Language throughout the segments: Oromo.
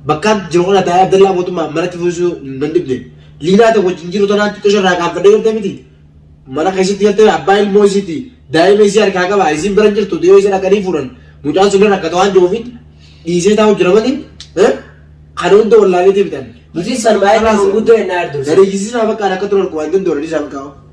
Bakkaan jiru kana taa'ee Abdallaa mootummaa manatti fuusisuu nan dhibne. Liinaa ta'e wajjin jiru tanaan xiqqoo ishee irraa qaanfadhee galtee miti. Mana keessatti galtee abbaa ilmoo isiiti. Daa'ima isii harkaa qaba. Isiin bira hin jirtu. Yoo isa dhaqanii fuudhan mucaan sun rakkata waan jiruufiin dhiisee taa'u jira malee kana hunda wallaaleetii bitan. Nuti san baay'ee kan guddoo hin dhaardu. Gadi jisiisaa bakkaan akka turan waan danda'u dhiisaa bakkaa.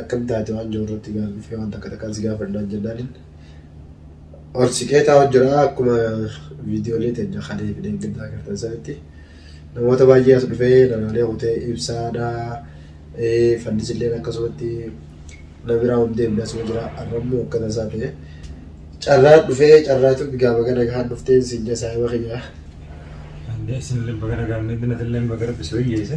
Akkam taate waan jiru irratti gaaf dhufee waan takka takkaan si gaafadhu naan jennaanin ol siqee taa'u jira akkuma viidiyoolee teenya kalee fi deeggaddaa agartan sanitti namoota baay'ee as dhufee nagaalee kutee ibsaadha fannisilleen akkasumatti na biraa hin deemne asuma jira arrammoo akkana isaa ta'e carraa dhufee carraatu bigaa baga nagaan dhuftee siin jasaa hima kiyya Isinillee baga nagaan dhuftan, atillee baga rabbi si wayyeesse.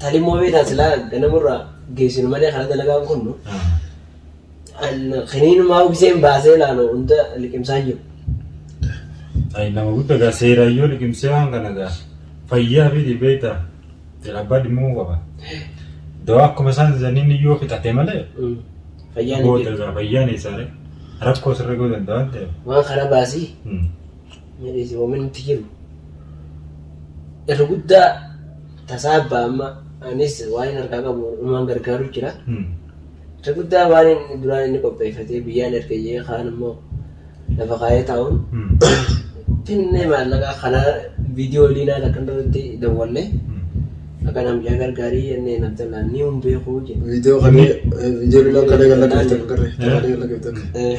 Talimmoo beektaa silaa ganamurra geessinu malee kana dalagaan kunnu kiniinumaa ugiseen baasee ilaalu hunda liqimsaa hin jiru. Ay nama gudda gaa seeraan yoo liqimsee waan kana gaa fayyaa fi dhibeeta abbaa dhimma qaba. Dawaa akkuma isaan jedhaniin yoo fixate malee Fayyaan hin booda jiru. gaa fayyaan isaanii rakkoo sirra godhan waan ta'eef. Waan kana baasii. Hmm. milisoominti jiru irra guddaa tasaa abbaa amma anis waan inni harkaa qabu uumaan gargaaru jira. Irra guddaa waan inni duraan inni qopheeffatee biyyaan erga jee kaan immoo lafa kaayee taa'uun finnee maallaqaa kana viidiyoo liinaa lakkan irratti dawwalle akka namjaa gargaarii jennee namtallaa ni hin beekuu jedhe. Viidiyoo kana viidiyoo liinaa kana galla qabatan garre. Kana galla qabatan. Eh,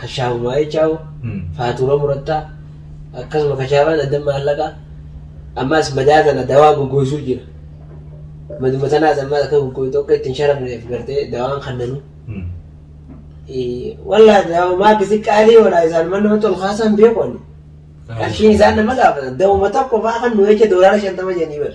kashaafu maayechaawu faatuura murattaa akkasuma kashaafaan addan maallaqaa ammaas madaa tana dawaa goggoysuu jira maduma tanaas ammaas akka goggoytu akka ittiin sharafneef gartee dawaan kannanu wallaa dawamaa akkasi qaalii walaa isaan man namatti ol kaasaan beeku ani qarshiin isaan nama gaafatan dawuma tokko faa kan nu jecha doolaara shantama jedhanii bar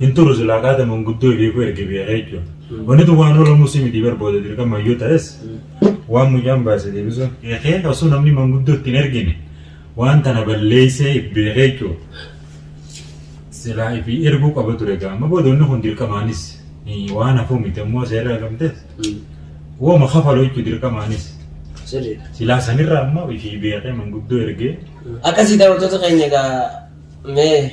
Hin turu silaa kaata manguddoo beekuu erge beeka jechuudha. Wanni tun waan oolamu si miti bar booda dirqama yoo ta'es waan mucaan baase deebisuun eekee osoo namni manguddoo ittiin ergine waan tana balleessee if beekee jechuudha. Silaa ifi erguu qaba ture gaa amma booda wanni kun dirqamaanis eh, waan hafuu miti ammoo seerri argamtes wooma kafalu jechuudha dirqamaanis. Sirriidha. Silaa sanirraa ammoo ifi beekee manguddoo ergee Akkasii daawwattoota keenya egaa mee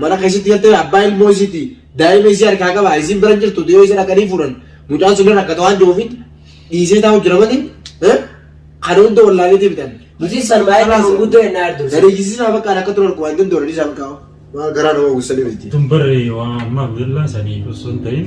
Mana keessatti galtee abbaa ilmoo isiiti daa'ima isii harkaa qaba isiin bira jirtu dhiyoo isa dhaqanii fuudhan mucaan sun rakkata waan jiruufin dhiisee taa'u jira malee kana hunda wallaaleetii bitan. Hojii san baay'ee kan guddoo hin dhaaddu. Dariijisisaa bakka akka turan waan hin dooranii isaa bakka waan garaa nama gussanii miti. Tun barree waan ammaa guddaa sanii osoo hin ta'in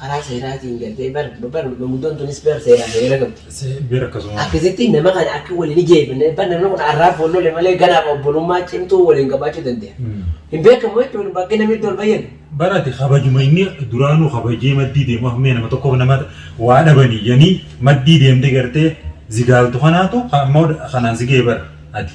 karaa seeraatiin galtee bar bar manguddoon tunis bar seeraan seera qabdi. Seera akkasuma. Akkasitti nama kana akka waliin ijeefne bar namni kun arraaf wal lole malee ganaaf obbolummaa cimtuu waliin qabaachuu danda'a. Hin beekamu jechuun bakka namni itti wal bayyane. Barate kabajuma inni duraanuu kabajee maddii deemu hammee nama tokkoof nama waa dhabanii yanii maddii deemtee gartee zigaaltu kanaatu ammoo kanaan zigee bara ati.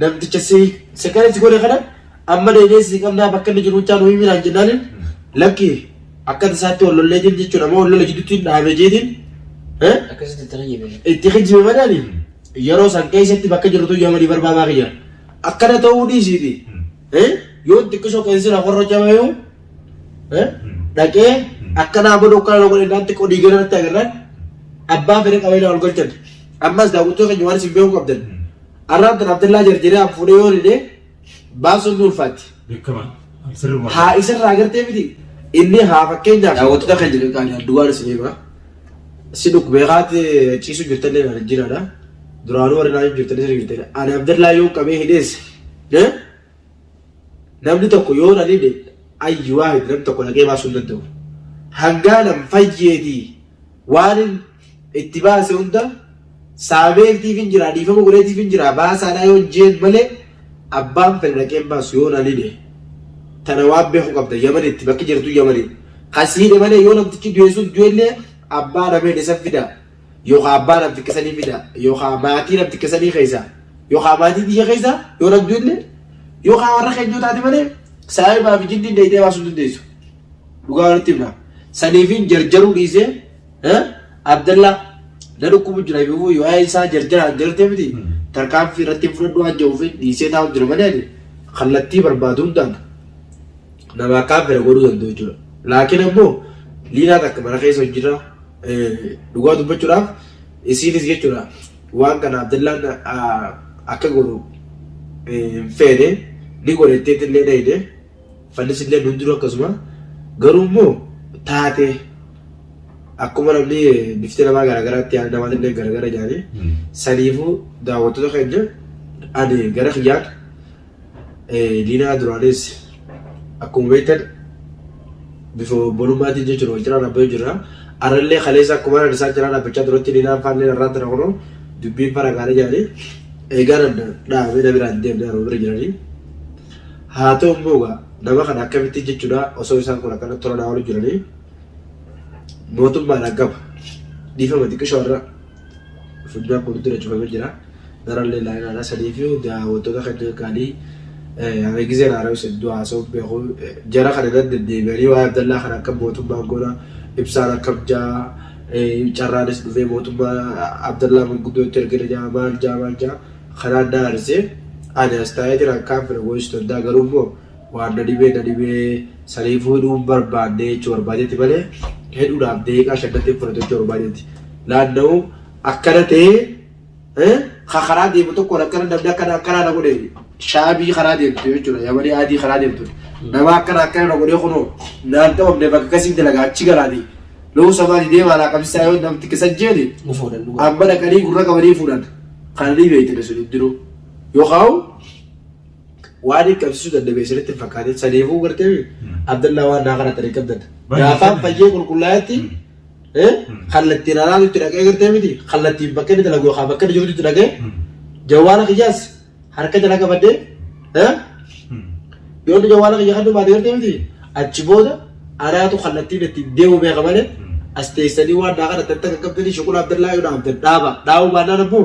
Namticha si si kana si godhe kana amma deemee si qabnaa bakka inni jiru chaa nu himi naan jennaaniin lakki akka tasaatti wal lollee jiru jechuudha amma wal lola jidduutti dhaabee jeetiin eh, Akkasitti itti hojjete. itti kijjibe madaali yeroo san keessatti bakka jirtu yaamanii barbaadaa kiyya akkana ta'uu dhiisiiti eh, yoo xiqqisoo keessi na warra jamayuu eh, dhaqee akkanaa godhu akkana na godhe naatti qodii gara natti agarraan abbaa fedhe qabee na ol galchan ammas daawwattoota keenya waan isin beekuu qabdan Arraan tan Abdallaa jarjaree an fuudhee yoo dide baasuun ni ulfaatti. Beekaman. An sirruma. Haa isarraa agartee miti inni haa fakkeenyaaf daawwattoota kan jedhu kan duwwaan isin hima. Si dhukkubee kaate ciisu jirtallee kan jiraadha. Duraanuu warri naannoo jirtallee sirrii jirtallee. Ani Abdallaa yoo qabee hidhees Namni tokko yoo na dhibe ayyi waahid namni tokko dhaqee baasuu hin danda'u. Hangaanan fayyeetii waanin itti baase hunda saameetiifin jira dhiifama godheetiifin jira baasaadhaa yoon jeen malee abbaan fedhe dhaqee hin baasu yoo na dhibe. Tana waan beeku qabda yamanitti bakki jirtu yamanii. Kan si hidhe malee yoo namtichi du'e sun du'ellee abbaa namee dhisan fidaa. yookaa abbaa naf xiqqesanii fida yookaa maatii naf xiqqesanii keessa yookaa maatii tiyya keessa yoo rabdu illee yookaa warra keenya yoo taate malee saayibaa fi jinniin deeytee baasuu dandeessu dhugaa walitti himna saniifiin jarjaruu dhiisee eh, abdallaa na dhukkubu jira yoo yoo ayee isaa jarjaraan jartee miti tarkaanfii irratti hin fudhadhu waan jedhuuf dhiisee taa'u jira malee ani kallattii barbaadu hundaan nama akkaan fedha godhuu danda'u jechuudha laakiin ammoo liinaa takka mana keessa hin jirra Dhugaa dubbachuudhaaf isiinis jechuudha waan kana Abdallaan akka godhu hin feene ni godhe itteetti illee dhayde fannis illee nun jiru akkasuma garuu immoo taate akkuma namni bifti namaa garaagaraatti yaada namaa illee garaagara jedhanii saniifuu daawwattoota keenya ani gara kiyyaan diinaa duraanis akkuma beektan bifa obbolummaatiin jechuun wal cinaa dhaabbatee jira. Arrallee kaleessa akkuma isaan cinaa dhaabbachaa turetti diinaan faallee irraa tana kunoo dubbiin fara gaarii jedhanii eegaan dhaabee na biraan deemnee arma bira jiranii. Haa ta'u immoo egaa nama kana akkamitti jechuudha osoo isaan kun akkana tola naa waliin jiranii mootummaadhaan qaba dhiifama xiqqisho irra funyaan kun dura cufamee jira. Darallee laayinaadha. Sanii fi daawwattoota kanneen kaanii ani gizeen haara'us hedduu haasa'uun beeku. Jara kana nan deddeebi'anii waa'ee Abdallaa kana akka mootummaan goona ibsaan akkam jaa carraanis dhufee mootummaa Abdallaa manguddoo itti ergina jaa maal jaa maal jaa kanaan na aarsee ani as taa'ee jiraan kaan fira gooyisuu danda'a garuu immoo Waan dadhibee dadhibee saniifuu hidhuu barbaadde jechuu barbaadetti malee hidhuudhaaf deeqaa shaddatti hin fudhatu jechuu barbaadetti. Naanna'uu akkana ta'ee ka karaa deemu tokkoon akkana namni akkana akkanaa na godhe shaabii karaa deemtu jechuudha yamanii adii karaa deemtu nama akkana akkana na godhee kunoo naan ta'amne bakka akkasiin dalagaa achi galaati lo'uu samaati deemaa laa qabsisaa yoo namti kisa jeeni Ni fuudhan dhugaa. amma dhaqanii gurra qabanii fuudhan kan ni beekne sun hin jiru yoo kaa'u waan hin qabsiisuu dadhabee sirritti hin fakkaatin saniifuu gartee Abdallaa waan naa kana tarii qabdadha. Gaafaan fayyee qulqullaa'etti kallattiin araatu itti dhaqee gartee miti kallattiin bakka inni dalagu yookaan bakka inni jirutti itti dhaqee jawwaala kiyyaas harka jala qabadhee yoo inni jawwaala kiyya kan dhumaate gartee miti achi booda araatu kallattiin itti deemu beeka malee as teessanii waan naa kana tarii takka qabdanii shuqula Abdallaa yoo dhaabdan dhaaba dhaabuu baannaan ammoo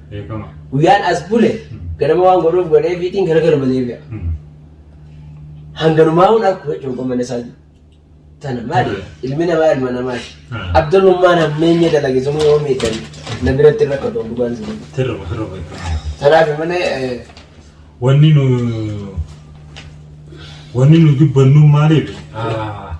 Beekama. Guyyaan as bule ganama waan godhuuf godhee fiitiin gara galma deebi'a. Hanganumaa hun akkuma jechuun qommanne isaa tana maali ilmi namaa ilma namaati. Abdallummaan hammeenya dalage sun yoo miidhan na biratti irra qabdu dhugaan sun. Sirba sirba beekama. Kanaaf malee eh, Wanni nu wanni nu jibbannu maaliif? Ah,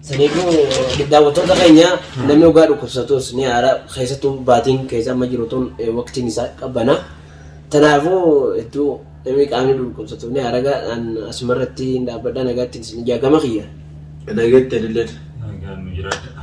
Saniifuu daawwattoota keenya namni ogaa dhukkubsatus ni aara keessattuu baatiin keessa amma jiru tun eh, waqtiin isaa qabbana. Kanaafuu hedduu namni qaamni dhukkubsatu ni aara gaadhaan asumarratti hin dhaabbadha nagaatti isin ijaagama kiyya. Nageetti adilleen. Nagaan nu jiraadha.